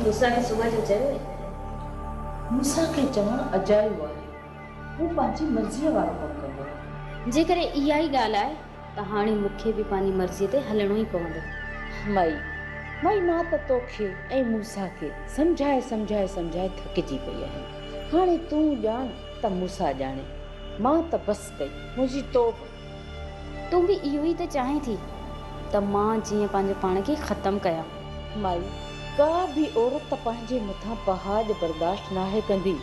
موسيٰ کي صبح جو چيو ويو. موسيٰ کي چوڻ اجايو آهي. هو پنهنجي مرضيء وارو ڪم ڪندو آهي. جيڪڏهن اها ئي ڳالهه آهي ته هاڻي مون کي به پنهنجي مرضيء تي هلڻو ئي پوندو. مئي، مئي مان ته تو کي ۽ موسيٰ کي سمجهائي سمجهائي سمجهائي ٿڪجي پئي آهيان. هاڻي تون ڄاڻ ته موسيٰ ڄاڻي. مان ته بس ڪئي. منهنجي توبه. تون به اهو ئي ته چاهين ٿي ته مان جيئن پنهنجو پاڻ کي ختم ڪيان. مئي، ڪا به عورت پنهنجي مٿان پهاڄ برداشت ناهي ڪندي.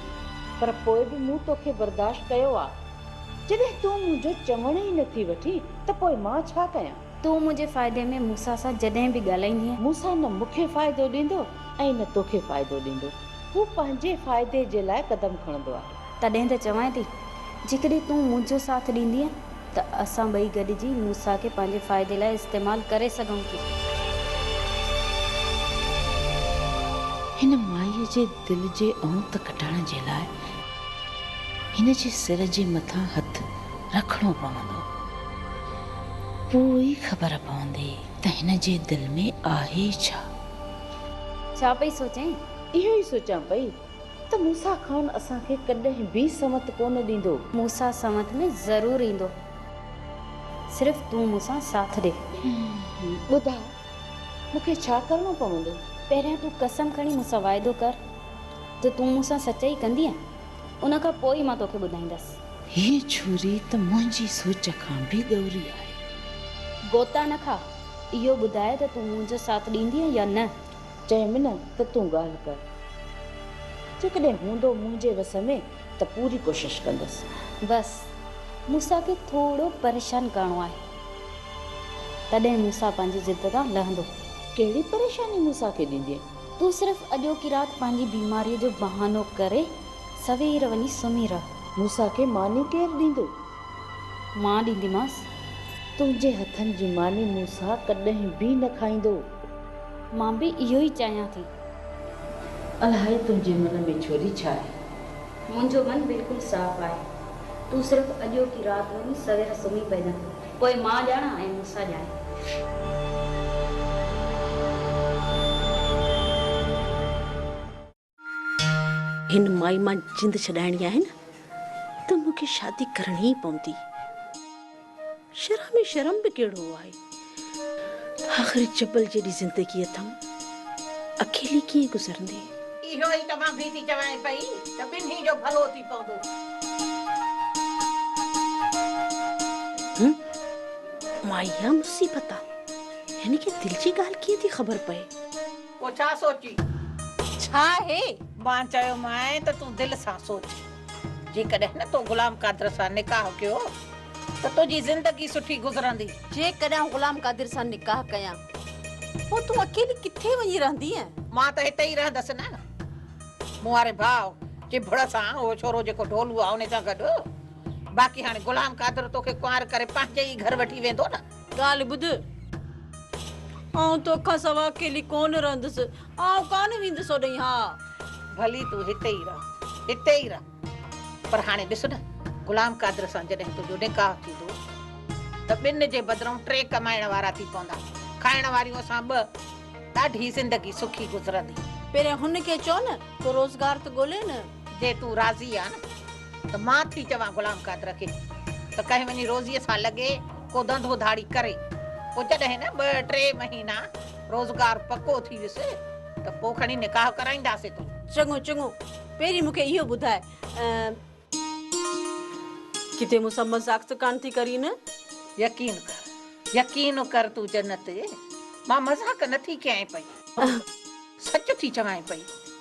پر پوء به مون تو کي برداشت ڪيو آ. جڏهن تون منهنجو چوڻ ئي نه ٿي وٺين ته پوء مان ڇا ڪيان؟ تون منهنجي فائدي ۾ موسيٰ سان جڏهن به ڳالهائيندينء. موسيٰ نه مون کي فائدو ڏيندو ۽ نه توکي فائدو ڏيندو. هو پنهنجي فائدي جي لاء قدم کڻندو آهي. تڏهن ته چوانء ٿي، جيڪڏهن تون منهنجو ساٿ ڏيندينء ته اسان ٻئي گڏجي موسيٰ کي پنهنجي فائدي لاء استعمال ڪري سگهون ٿيون. هن مائيء جي دل جي اونت ڪٽڻ جي لاء هن جي سر جي مٿان هٿ رکڻو پوندو. پوء ئي خبر پوندي ته هن جي دل ۾ آهي ڇا؟ ڇا پئي سوچين؟ اهو ئي سوچان پئي ته موسيٰ خان اسان کي ڪڏهن به سنوت ڪونه ڏيندو. موسيٰ سنوت ۾ ضرور ايندو. صرف تون مون سان ساٿ ڏي. ٻڌاء مون کي ڇا ڪرڻو پوندو؟ پهريان تون قسم کڻي مون سان واعدو ڪر ته تون مون سان سچائي ڪندينء، ان کان پوء ئي مان توکي ٻڌائيندس. هيء ڇوري ته منهنجي سوچ کان به ڳوري آهي. گوتا نه کاء، اهو ٻڌاء ته تون منهنجو ساٿ ڏيندينء يا نه؟ چيم نه ته تون ڳالهه ڪر، جيڪڏهن هوندو منهنجي وس ۾ ته پوري ڪوشش ڪندس بس مون سان کي ٿورو پريشان ڪرڻو آهي تڏهن مون سان پنهنجي ضد تان لهندو. ڪهڙي پريشاني مون سان کي ڏيندين. تون صرف اڄوڪي رات پنهنجي بيماري جو بهانو ڪري سوير وڃي سمهي رهه. مون سان کي ماني ڪير ڏيندو. مان ڏينديمانس. تنهنجي هٿن جي ماني مون سان ڪڏهن به نه کائيندو. مان به اهو ئي چاهيان ٿي. الاهي تنهنجي من ۾ ڇوري ڇا آهي؟ منهنجو من بلڪل صاف آهي. تون صرف اڄوڪي رات جو ئي سوير سمهي پئجان. پوء مان ڄاڻان ۽ مون سان ڄاڻين. هن مائي مان جند ڇڏائڻي آهي نه ته مون کي شادي ڪرڻي ئي پوندي. شرح ۾ شرم به ڪهڙو آهي. آخر جبل جيڏي زندگي اٿم، اڪيلي ڪيئن گذرندي. اهو ئي ته مان به ٿي چوانء پئي ته ٻنهي جو ڀلو ٿي پوندو. هوم، مائي اها مصيبت آ. هن کي دل جي ڳالهه ڪيئن ٿي خبر پئي. پوء ڇا سوچين؟ ڇا هي؟ مان چيومانء ته تون دل سان سوچ. جيڪڏهن نه تو غلام قادر سان نڪاح ڪيو ته تنهنجي زندگي سٺي گذرندي. جيڪڏهن آئون غلام قادر سان نڪاح ڪيان پوء تون اڪيلي ڪٿي وڃي رهندينء؟ مان ته هتي ئي رهندس نه. مون واري ڀاء چڀڙ سان اهو ڇورو جيڪو ڍولو آ ان سان گڏ. باقي هاڻي غلام قادر توکي ڪنوار ڪري پنهنجي ئي گهر وٺي ويندو نه. ڳالهه ٻڌ، آئون تو کان سوا اڪيلي ڪونه رهندس. آئون ڪانه ويندس هوڏهين. ها! ڀلي تون هتي ئي رهه، هتي ئي رهه. پر هاڻي ڏس نه، غلام قادر سان جڏهن تنهنجو نڪاح ٿيندو ته ٻن جي بدرئون ٽي ڪمائڻ وارا ٿي پوندا. کائڻ واريون اسان ٻه. ڏاڍي زندگي سکي گذرندي. پهريان هن کي چئو نه، ڪو روزگار ته ڳولي نه. جي تون راضي آهين ته مان ٿي چوان غلام قادر کي ته ڪنهن وڃي روزيء سان لڳي ڪو ڌنڌو ڌاڙي ڪري پوء جڏهن نه ٻه ٽي مهينا روزگار پڪو ٿي ويس ته پوء کڻي نڪاح ڪرائينداسين تون. چڱو چڱو پهرين مون کي اهو ٻڌاء. ڪٿي مون سان مذاق ته ڪانه ٿي ڪرين نه؟ يقين ڪر يقين ڪر تون جنت مان مذاق نه ٿي ڪيانء پئي سچ ٿي چوانء پئي.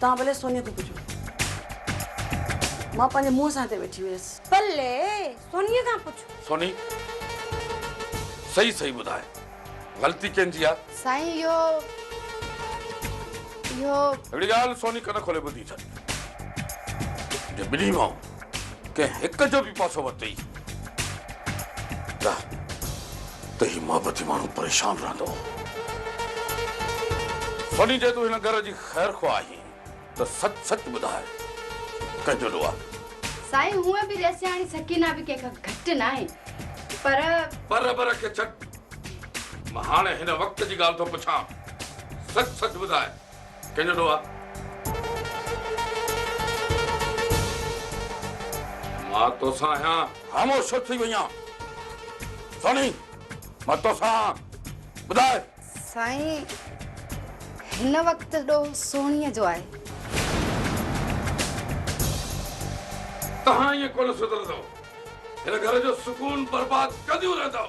توهان ڀلي سونيء کان پڇو. مان پنهنجي منهن سان هتي ويٺي هيس. ڀلي سونيء کان پڇ. سوني، صحيح صحيح ٻڌاء، غلطي ڪنهن جي آ؟ سائين اهو، اهو. هڪڙي ڳالهه سوني ڪن کولي ٻڌي ڇڏ. جي ٻنهي ڀائون ڪنهن هڪ جو به پاسو ورتئي ته هي محبتي ماڻهو پريشان رهندو. سوني جي تون هن گهر جي خير خواهه آهين ته سچ سچ ٻڌاء ڪنهن جو ڏو آهي؟ سائين هونء به رئيسياڻي سڪينه به ڪنهن کان گهٽ ناهي پر. پر بر کي ڇڏ مان هاڻي هن وقت جي ڳالهه ٿو پڇان سچ سچ ٻڌاء. ڪينيڊو آ. مان توسان آهيان. خاموش ڇو ٿي وئي آن؟ سوني، مان توسان آن. ٻڌاء. سائين، هن وقت ڏوهه سونيء جو آهي. توهان ائين ڪونه سڌرندؤ. هن گهر جو سڪون برباد ڪنديون رهندؤ.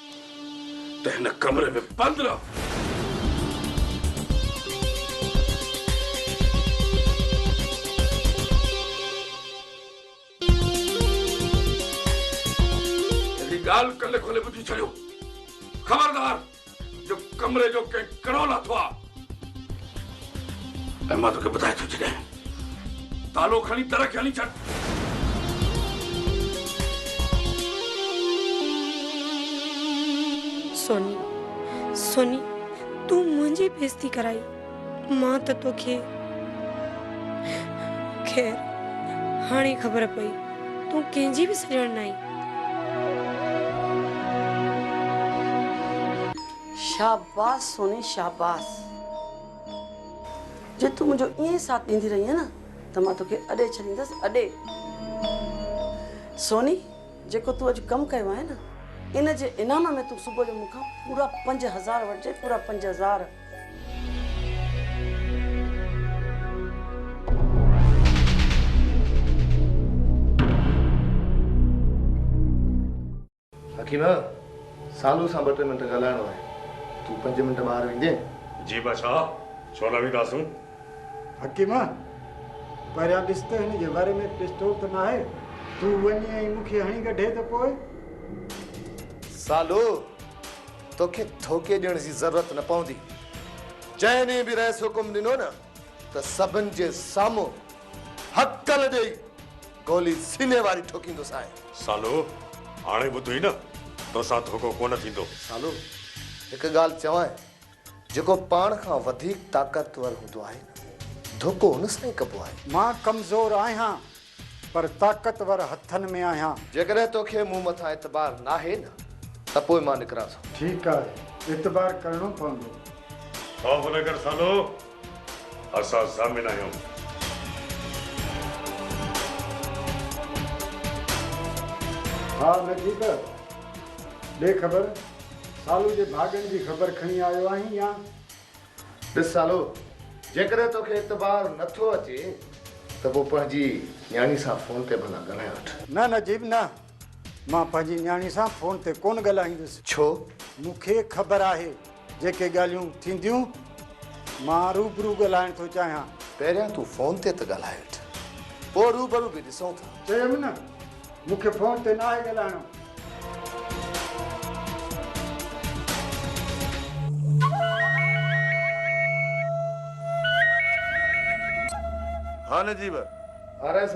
ته هن ڪمري ۾ پندرهن. هڪڙي ڳالهه ڪلي کولي ٻڌي ڇڏيو. خبردار! جو ڪمري جو ڪنهن ڪڙو لاٿو آ. ۽ مان توکي ٻڌائي ٿو ڇڏيان تالو کڻي در کي هلي ڇڏ. سوني سوني تون منهنجي بيزتي ڪرائي مان ته توکي خير هاڻي خبر پئي تون ڪنهن جي به سڄڻ ناهين. شاباس سوني شاباس جي تون منهنجو ائين ئي ساٿ ڏيندي رهينء نه ته مان توکي اڏي ڇڏيندس اڏي سوني جيڪو تون اڄ ڪم ڪيو آهي نه ان جي انعام ۾ تون صبح جو مون کان پورا پنج هزار وٺجي پورا پنج هزار حڪيمه! سالو سان ٻه ٽي منٽ ڳالهائڻو آهي، تون پنج منٽ ٻاهر ويندين؟ جي بادشاهه، ڇو نه وينداسون. حڪيمه! پهريان ڏس ته هن جي ور ۾ پسٽول ته ناهي، تون وڃ ۽ مون کي هڻي ڪڍي ته پوء. سالو! توکي ڌوڪي ڏيڻ جي ضرورت نه پوندي. جنهن ڏينهن به رئيس حڪم ڏنو نه ته سڀن جي سامهون هڪل ڏيئي گولي سيني واري ٺوڪيندس آء. سالو، هاڻي ٻڌوئي نه، توسان ڌوڪو ڪونه ٿيندو. سالو، هڪ ڳالهه چوانء، جيڪو پاڻ کان وڌيڪ طاقتور هوندو آهي نه، ڌوڪو ان سان ئي ڪبو آهي. مان ڪمزور آهيان، پر طاقتور هٿن ۾ آهيان. جيڪڏهن توکي مون مٿان اعتبار ناهي نه، ته پوء مان نڪران ٿو. ٺيڪ آهي، اعتبار ڪرڻو پوندو. خوف نه ڪر سالو. اسان ضامن آهيون. ها نٿي ته ڏي خبر. سالو جي ڀاڳن جي خبر کڻي آيو آهين يا؟ ڏس سالو، جيڪڏهن توکي اعتبار نٿو اچي ته پوء پنهنجي نياڻي سان فون تي ڀلا ڳالهائي وٺ. نه نجيب نه، مان پنهنجي نياڻي سان فون تي ڪونه ڳالهائيندس. ڇو؟ مون کي خبر آهي جيڪي ڳالهيون ٿينديون. مان روبرو ڳالهائڻ ٿو چاهيان. پهريان تون فون تي ته ڳالهائي وٺ. پوء روبرو به ڏسون ٿا. چيم نه، مون کي فون تي ناهي ڳالهائڻو. ها نجيب! ها رئيس!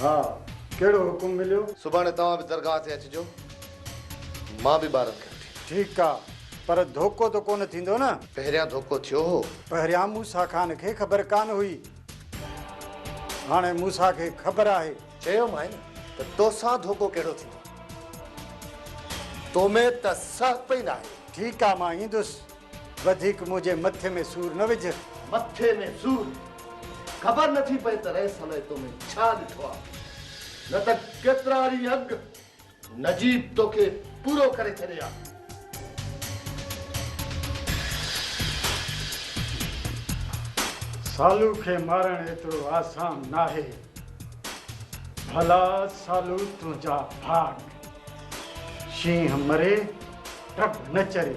ها، ڪهڙو حڪم مليو؟ سڀاڻي توهان به درگاهه تي اچجو، مان به ٻارن کي وٺي. ٺيڪ آ، پر ڌوڪو ته ڪونه ٿيندو نه؟ پهريان ڌوڪو ٿيو هو. پهريان موسيٰ خان کي خبر ڪانه هئي، هاڻي موسيٰ کي خبر آهي. چيومانء ته توسان ڌوڪو ڪهڙو ٿيندو؟ تو ۾ ته سهپ ئي ناهي. ٺيڪ آ، مان ايندس. وڌيڪ منهنجي مٿي ۾ سور نه وجهه. مٿي ۾ سور! خبر نه ٿي پئي ته رئيس الائي تو ۾ ڇا ڏٺو آ. نه ته ڪيترا ڏينهن اڳ نجيب توکي پورو ڪري ڇڏي ها. سالو کي مارڻ ايترو آسان ناهي. ڀلا سالو تنهنجا ڀاڳ. شينهن مري، ٽٻ نه چري.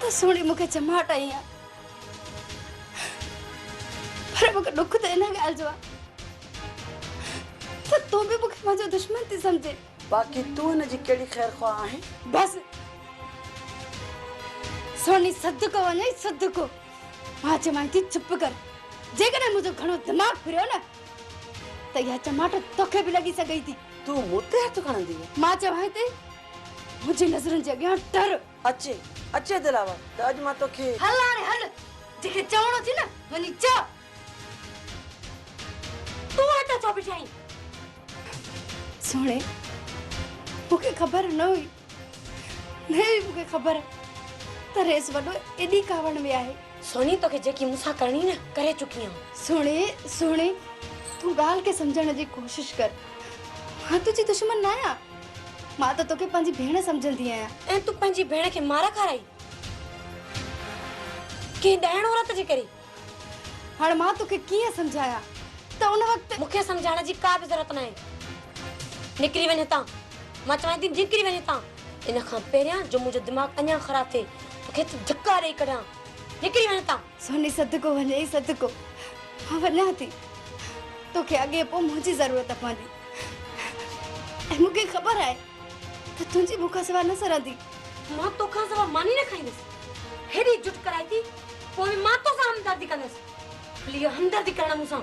ته سهڻي مون کي چماٽ هنئي ها پر مون کي ڏک ته ان ڳالهه جو آهي ته تون به مون کي منهنجو دشمن ٿي سمجهين. باقي تون هن جي ڪهڙي خير خواهه آهين؟ بس سهڻي صدقو وڃئي صدقو. مان چوانء ٿي چپ ڪر. جيڪڏهن منهنجو گهڻو دماغ ڦريو نه ته اها چماٽ توکي به لڳي سگهي ٿي. تون مون تي هٿ کڻندينء؟ مان چوانء ٿي. منهنجي نظرن جي اڳيان ٽر. اچ اچ دلاور ته اڄ مان توکي. هل هاڻي هل جنهن کي چوڻو اٿئي نه وڃي چئه. تون هتي ڇو بيٺي آهين؟ سهڻي مون کي خبر نه هئي. نه هئي مون کي خبر ته ريس وڏو ايڏي ڪاوڙ ۾ آهي. سهڻي توکي جيڪي مون سان ڪرڻي نه ڪري چڪي آهيان. سهڻي سهڻي تون ڳالهه کي سمجهڻ جي ڪوشش ڪر. مان تنهنجي دشمن نه آهيان. مان ته توکي پنهنجي ڀيڻ سمجهندي آهيان. ۽ تون پنهنجي ڀيڻ کي مار کارائي؟ ڪنهن ڏائڻ عورت جي ڪري؟ هاڻ مان توکي ڪيئن سمجهايان ته ان وقت. مون کي سمجهائڻ جي ڪا به ضرورت ناهي. نڪري وڃ هتان. مان چوانء ٿي نڪري وڃ هتان. ان کان پهريان جو منهنجو دماغ اڃا خراب ٿئي توکي ته ڌڪا ڏيئي ڪڍيان. نڪري وڃ هتان. سوني صدقو وڃئي صدقو مان وڃان ٿي توکي اڳي پوء منهنجي ضرورت پوندي ۽ مون کي خبر آهي ته تنهنجي مون کان سوا نه سرندي مان تو کان سوا ماني نه کائيندس هيڏي جٽ ڪرائي ٿي پوء به مان تو سان همدردي ڪندس ڀلي اها همدردي ڪرڻ مون سان.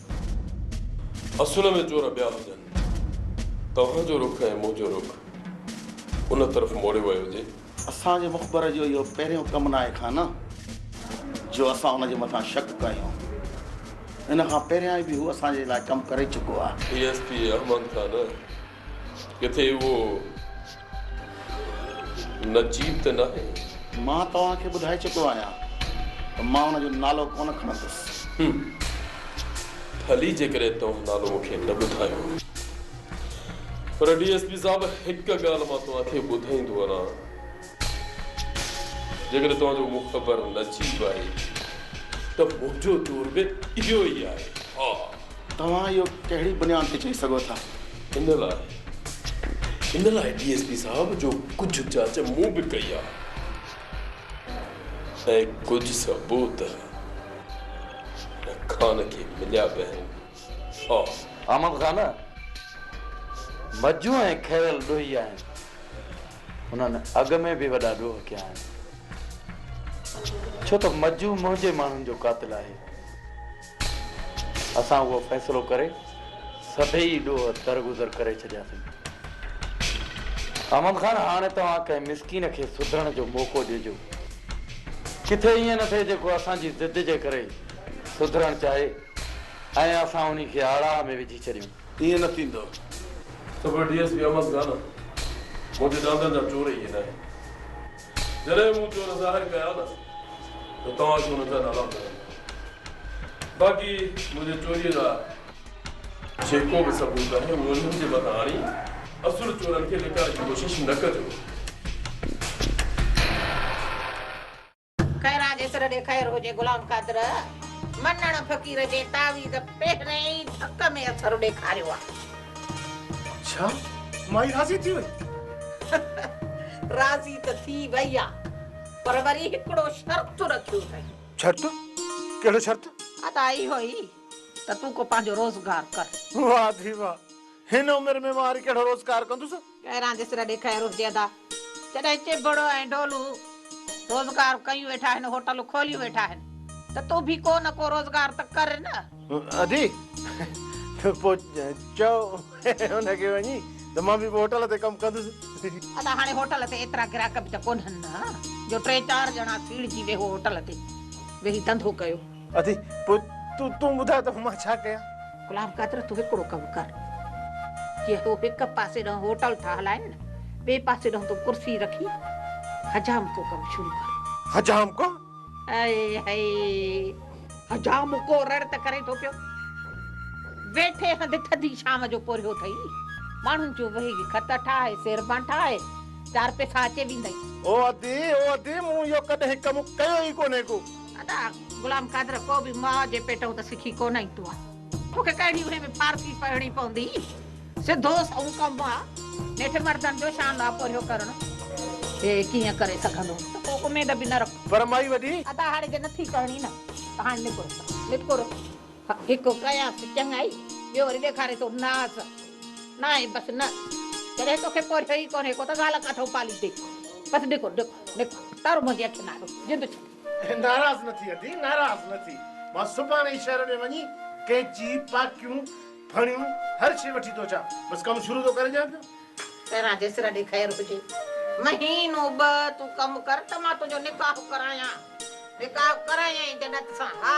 اصل ۾ چور ٻيا هجن. توهان جو رخ ۽ منهنجو رخ ان طرف موڙيو ويو هجي. اسان جي مخبر جو اهو پهريون ڪم ناهي کان نه جو اسان ان جي مٿان شڪ ڪيون. ان کان پهريان به هو اسان جي لاء ڪم ڪري چڪو آهي. ڊي ايس پي احمد کان نه. ڪٿي اهو نجيب ته ناهي؟ مان توهان کي ٻڌائي چڪو آهيان ته مان ان جو نالو ڪونه کڻندس. هم. ڀلي جيڪڏهن توهان نالو مون کي نه ٻڌايو. پر ڊي ايس پي صاحب هڪ ڳالهه مان توهان کي ٻڌائيندو وڃان. جيڪڏهن توهان جو مخبر نجيب آهي ته منهنجو دور به اهو ئي آهي. ها. توهان اهو ڪهڙي بنياد تي چئي سگهو ٿا؟ ان لاء ان لاء ڊي ايس پي صاحب جو ڪجهه جاچ مون به ڪئي آهي ۽ ڪجهه ثبوت هن خان کي مليا به آهن. ها. احمد خان مجون ۽ کيرل ڏوهي آهن. هنن اڳ ۾ به وڏا ڏوهه ڪيا آهن. ڇو ته مجو منهنجي ماڻهن جو قاتل آهي. اسان اهو فيصلو ڪري سڀيئي ڏوهه درگذر ڪري ڇڏياسين. احمد خان هاڻي توهان ڪنهن مسڪين کي سڌرڻ جو موقعو ڏجو. ڪٿي ائين نه ٿئي جيڪو اسان جي ضد جي ڪري سڌرڻ چاهي ۽ اسان انهي کي آڙاهه ۾ وجهي ڇڏيون. ائين نه ٿيندو. Super D S P Ahmed Khan منهنجي ڏاندن جا چور اهي ناهن. جڏهن مون چور ظاهر ڪيا نه ته توهان کي انهن جا نالا ملندا. باقي منهنجي چوريء جا جيڪو به ثبوت آهي اهو انهن جي مٿان آڻي اصل چورن کي لڪائڻ جي ڪوشش نه ڪجو. خيران جي سر ڏي خير هجي غلام قادر منڻ فقير جي تعويذ پهرين ئي ڌڪ ۾ اثر ڏيکاريو آ. اڇا مائي راضي ٿي وئي. راضي ته ٿي وئي آ پر وري هڪڙو شرط رکيو اٿئي. شرط ڪهڙو شرط؟ ادا اهو ئي ته تون ڪو پنهنجو روزگار ڪر. واه ڌي واه هن عمر ۾ مان وري ڪهڙو روزگار ڪندس. ڪهڙا جسر ڏي خير هجي ادا. جڏهن چيڀڙو ۽ ڍولو روزگار ڪيون ويٺا آهن هوٽلون کوليون ويٺا آهن ته تون به ڪو نه ڪو روزگار ته ڪر نه. ادي ته پوء چئو ان کي وڃي ته مان به پوء هوٽل تي ڪم ڪندس. ادا هاڻي هوٽل تي ايترا گراهڪ به ته ڪونهن نه جو ٽي چار ڄڻا سيڙجي ويهو هوٽل تي ويهي ڌنڌو ڪيو. ادي پوء تون ٻڌاء ته مان ڇا ڪيان؟ غلام قادر تون هڪڙو ڪم ڪر جي هو هڪ پاسي ڏانهن هوٽل ٿا هلائين ٻئي پاسي ڏانهن تون ڪرسي رکي حجامڪو ڪم شروع ڪر. حجامڪو؟ هائي هائي حجامڪو رڙ ته ڪري ٿو پيو ويٺي هنڌ ٿڌي شام جو پورهيو اٿئي ماڻهن جو ويهي خط ٺاهي سيربان ٺاهي چار پئسا اچي ويندئي. او ادي او ادي مون اهو ڪڏهن ڪم ڪيو ئي ڪونهي ڪو. ادا غلام قادر ڪو به ماء جي پيٽئون ته سکي ڪونه ايندو آ توکي ڪهڙي اهي ۾ فارسي پڙهڻي پوندي سڌو سئون ڪم آ نيٺ مردن جو شان لاپورهيو ڪرڻ هي ڪيئن ڪري سگهندو ته ڪو اميد به نه رک. پر مائي وڏي. ادا هاڻي جي نٿي ڪرڻي نه ته هاڻي نڪر نڪر هڪ ڪيانس چڱائي ٻيو وري ڏيکاري ٿو ناز ناهي بس نه جڏهن توکي پورهيو ئي ڪونهي ڪو ته زال ڪاٿئون پاليندي بس نڪر نڪر نڪر تر منهنجي اکين آڏو جند ڇڏ. ناراض نه ٿي ادي ناراض نه ٿي مان سڀاڻي ئي شهر ۾ وڃي قيچي پاڪيون ڦڻيون هر شي وٺي ٿو اچان بس ڪم شروع ٿو ڪري ڏيان پيو. پهران جيسر ڏي خير هجي مهينو ٻه تون ڪم ڪر ته مان تنهنجو نڪاح ڪرايان نڪاح ڪرايائين جڏت سان ها.